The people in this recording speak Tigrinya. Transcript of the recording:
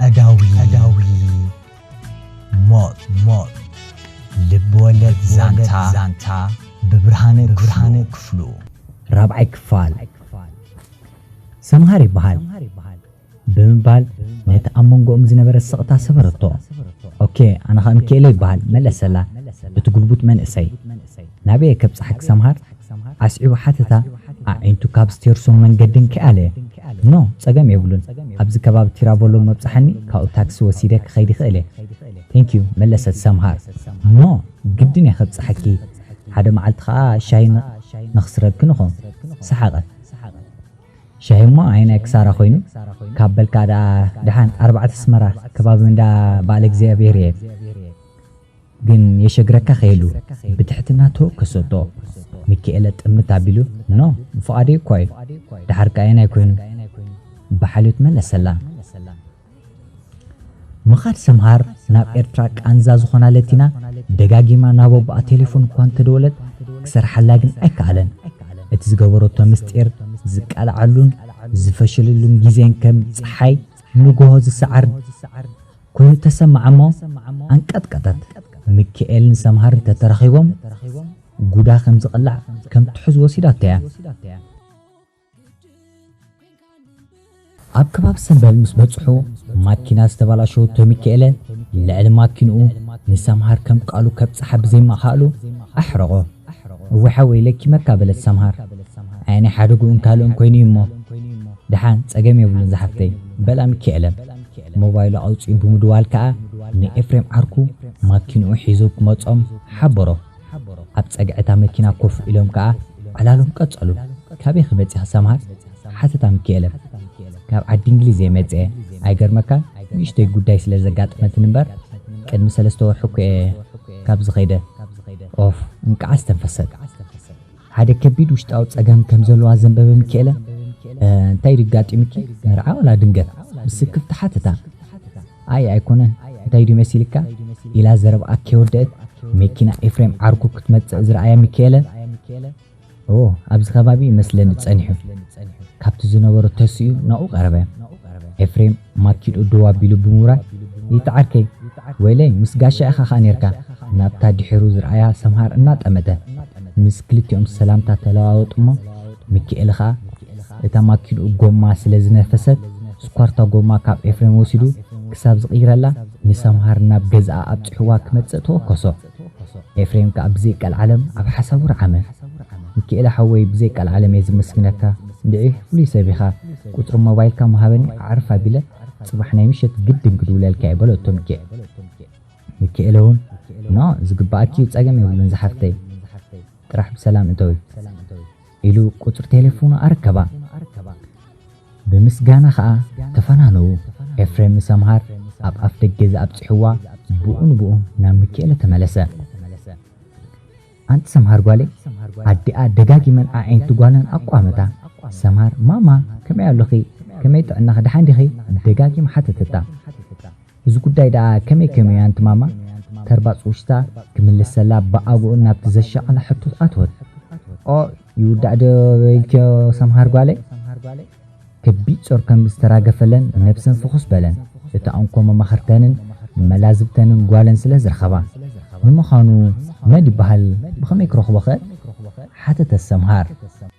ቀዳዊ ቀዳዊ ሞት ሞት ልብወለድ ዛንታ ዛንታ ብብርሃነ ብርሃነ ክፍሉ ራብዓይ ክፋል ሰምሃር ይበሃል ብምባል ነቲ ኣብ መንጎኦም ዝነበረ ስቕታ ሰበረቶ ኦኬ ኣነ ኸኣ ምክኤለ ይበሃል መለሰላ እቲ ጉልቡት መንእሰይ ናበየ ከብጽሓኪ ሰምሃር ኣስዒቡ ሓተታ ኣዒንቱ ካብ ስቴርሶም መንገድን ኪኣለ። ኖ፣ ጸገም የብሉን። ኣብዚ ከባቢ ቲራቮሎ መብጽሓኒ ካብኡ ታክሲ ወሲደ ክኸይድ ይኽእል'የ። ቴንኪው፣ መለሰት ሰምሃር። ኖ፣ ግድን'የ ከብጽሓኪ። ሓደ መዓልቲ ከኣ ሻሂ ንኽስረግክን እኾ። ሰሓቐት። ሻሂ'ሞ ኣየናይ ክሳራ ኮይኑ? ካብ በልካ ደኣ ደሓን፣ ኣርባዕተ ኣስመራ፣ ከባቢ እንዳ በዓለእግዚኣብሄር'የ። ግን የሸግረካ ከይሉ ብትሕትና ተወከሰቶ። ሚኪኤለ ጥምት ኣቢሉ፣ ኖ ብፍቓደይ እኳ'ዩ፣ ደሓር ከኣ ኣየናይ ኮይኑ? ብሓልዮት መለሰላ። ምኻድ ሰምሃር ናብ ኤርትራ ቃንዛ ዝኾና ለቲና ደጋጊማ ናብ ኣቦኣ ቴሌፎን እኳ እንተደወለት ክሰርሓላ ግን ኣይከኣለን። እቲ ዝገበረቶ ምስጢር ዝቃልዓሉን ዝፈሸለሉን ግዜን ከም ጸሓይ ንጉሆ ዝሰዓርን፣ ኮይኑ ተሰምዓ'ሞ ኣንቀጥቀጠት። ምኪኤልን ሰምሃርን ተተራኺቦም ጉዳ ከም ዝቕላዕ ከም ትሑዝ ወሲዳቶ'ያ። ኣብ ከባቢ ሰምበል ምስ በጽሑ ማኪና ዝተባላሸወቶ ምኪኤለ ልዕሊ ማኪንኡ ንሰምሃር ከም ቃሉ ከብጽሓ ብዘይምክኣሉ ኣሕረቖ። እወ ሓወይ ለኪመካ በለት ሰምሃር ኣየ ናይ ሓደጉኡን ካልእን ኮይኑ እዩሞ ደሓን ጸገም የብሉን ዝሓፍተይ በላ ሚኪኤለም ሞባይሉ ኣውጺኡ ብምድዋል ከኣ ንኤፍሬም ዓርኩ ማኪንኡ ሒዙ ክመጾም ሓበሮ ኣብ ጸግዒ እታ መኪና ኮፍ ኢሎም ከኣ ዕላሎም ቀጸሉ ካበይ ኺመጺኻ ሰምሃር ሓተታ ምኪኤለ ካብ ዓዲ እንግሊዝ እየ መጺኤ ኣይገርመካን ንእሽቶይ ጉዳይ ስለ ዘጋጠመትኒ እምበር ቅድሚ ሰለስተ ወርሒ እኮ እየ ካብዚ ከይደ ኦፍ እንቃዓስ ተንፈሰት ሓደ ከቢድ ውሽጣዊ ጸገም ከም ዘለዋ ዘንበበ ምኪኤለ እንታይ ድዩ ኣጋጢሙኪ መርዓ ወላ ድንገት ምስ ስክፍቲ ሓተታ ኣይ ኣይኮነን እንታይ ድዩ መሲልካ ኢላ ዘረብኣ ከይወደእት መኪና ኤፍሬም ዓርኩ ክትመጽእ ዝረኣየ ምኪኤለ እዎ ኣብዚ ከባቢ ይመስለኒ ጸኒሑ ካብቲ ዝነበሮ ተሲኡ ናብኡ ቀረበ። ኤፍሬም ማኪድኡ ደው ኣቢሉ ብምውራይ ይእቲ ዓርከይ ወይለይ ምስ ጋሻ ኢኻ ከኣ ኔርካ ናብታ ድሒሩ ዝርኣያ ሰምሃር እናጠመተ ምስ ክልቲኦም ሰላምታ ተለዋወጡ'ሞ ሚኪኤለ ከኣ እታ ማኪድኡ ጎማ ስለ ዝነፈሰት ስኳርታ ጎማ ካብ ኤፍሬም ወሲዱ ክሳብ ዝቕይረላ ንሰምሃር ናብ ገዝኣ ኣብጺሑዋ ክመጽእ ተወከሶ። ኤፍሬም ክኣ ብዘይ ቀልዓለም ኣብ ሓሳቡ ረዓመ። ሚኪኤለ ሓወይ ብዘይ ቀልዓለም እየ ዝመስግነካ እንድዒ ፍሉይ ሰብ ኢኻ ቁጽሪ ሞባይልካ እሞ ሃበኒ ኣዕርፍ ኣቢለ ጽባሕ ናይ ምሸት ግድን ክድውለልካ እየ በለቶ ሚኪኤ ሚኪኤለ ውን ን ዝግበኣኪ እዩ ጸገም የብሉን ዝሓፍተይ ጥራሕ ብሰላም እተዊ። ኢሉ ቁጽሪ ቴሌፎኑ ኣረከባ። ብምስጋና ከኣ ተፈናነዉ። ኤፍሬም ምስ ኣምሃር ኣብ ኣፍ ደገ ዝኣብጽሕዋ ብኡ ንብኡ ናብ ምኪኤለ ተመለሰ። ኣንቲ ሰምሃር ጓለይ ኣዲኣ ደጋጊመን ኣዒንቲ ጓለን ኣቋመታ። ሰምሃር ማማ ከመይ ኣሎኺ ከመይ ጥዕናኺ ደሓን ዲኺ ደጋጊማ ሓተተታ። እዚ ጉዳይ ደኣ ከመይ ከይኑ ያንቲ ማማ ተርባጽ ውሽታ ክምልሰላ ብኣግኡ ናብቲ ዘሻቐላ ሕቶ ኣተወት። ኦይ ይውዳእ ዶ በይልክዮ ሰምሃር ጓለይ? ከቢድ ጾር ከም ዝተራገፈለን ነብሰን ፍኹስ በለን። እታ እንኮ መማኽርተንን መላዝብተንን ጓለን ስለ ዝረኸባ። ንምዃኑ መን ይበሃል ብኸመይ ክረኽቦኸ? ሓተተት ሰምሃር።